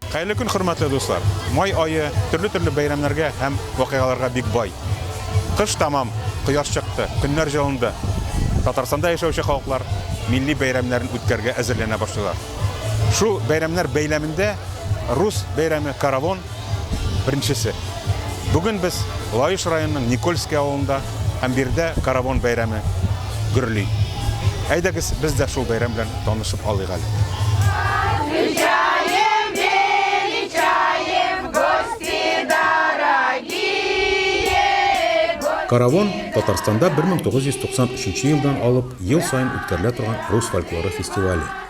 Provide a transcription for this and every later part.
Хәерле көн, хөрмәтле дуслар. Май айы төрле-төрле бәйрәмнәргә һәм вакыйгаларга бик бай. Кыш тамам, кояш чыкты, көннәр җылынды. Татарстанда яшәүче халыклар милли бәйрәмнәрен үткәргә әзерләнә башлыйлар. Шул бәйрәмнәр бәйләмендә рус бәйрәме Каравон Беренчесе. Бүген без Лаеш районының Никольский авылында һәм биредә каравон бәйрәме гөрли. Әйдәгез, без дә шул бәйрәм белән танышып алыйк әле. Каравон Татарстанда 1993 елдан алып ел саен үткәрелә торган рус фольклоры фестивале.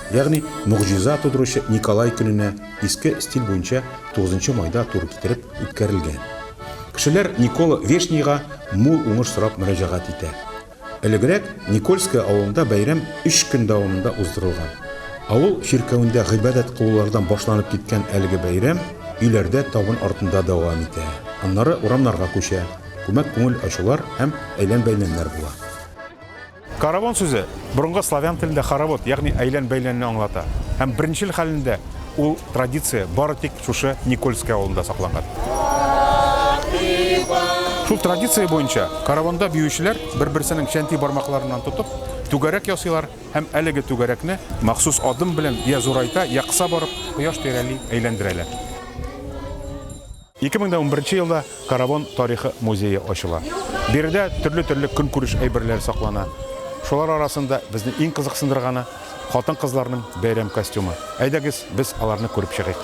Ягъни могҗиза тудыручы Николай көненә иске стиль буенча 9 майда туры китереп үткәрелгән. Кешеләр Никола Вешнийга мул уңыш сорап мөрәҗәгать итә. Элегрәк Никольское авылында бәйрәм өч көн дәвамында уздырылган. Авыл чиркәвендә гыйбадәт кылулардан башланып киткән әлеге бәйрәм өйләрдә табын артында дәвам итә. Аннары урамнарга күчә, күмәк күңел ачулар һәм әйлән-бәйләннәр була. Каравон сүзе борынгы славян телендә хоровод, ягъни әйлән-бәйләнне аңлата. Һәм беренчел хәлендә ул традиция бары тик шушы Никольский авылында сакланган. Шул традиция буенча каравонда биючеләр бер-берсенең чәнти бармакларыннан тотып, түгәрәк ясыйлар һәм әлеге түгәрәкне махсус адым белән я зурайта, я кыса барып, кояш тирәли әйләндерәләр. Ике мең дә унберенче елда Каравон тарихы музее ачыла. Биредә төрле-төрле көнкүреш әйберләре саклана. Шулар арасында безне иң кызыксындырганы, хатын-кызларның бәйрәм костюмы. Әйдәгез, без аларны күреп чыгыйк.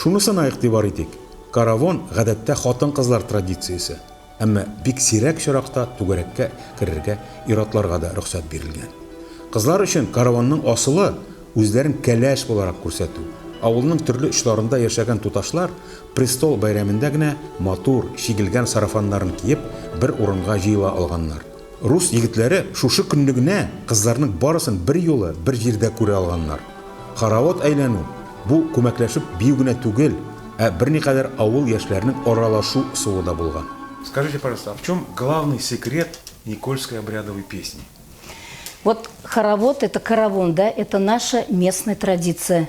Шунысына игътибар итик, каравон, гадәттә, хатын-кызлар традициясе, әмма бик сирәк очракта түгәрәккә керергә ир-атларга да рөхсәт бирелгән. Кызлар өчен каравонның асылы, үзләрен кәләш буларак күрсәтү. Авылның төрле очларында яшәгән туташлар престол бәйрәмендә генә матур, чигелгән сарафаннарын киеп, бер урынга җыела алганнар. Рус егетләре шушы көнне генә кызларның барысын берьюлы бер җирдә күрә алганнар. Хоровод әйләнү, бу күмәкләшеп бию генә түгел, ә берникадәр авыл яшьләренең аралашу ысулы да булган. Скажите, пожалуйста, а в чем главный секрет Никольской обрядовой песни? Вот хоровод, это каравон, да, это наша местная традиция.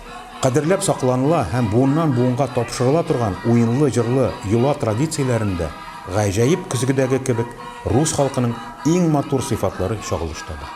Кадерләп сакланыла һәм буыннан-буынга тапшырыла торган уенлы-җырлы йола традицияләрендә, гаҗәеп көзгедәге кебек, рус халкының иң матур сыйфатлары чагылыш таба.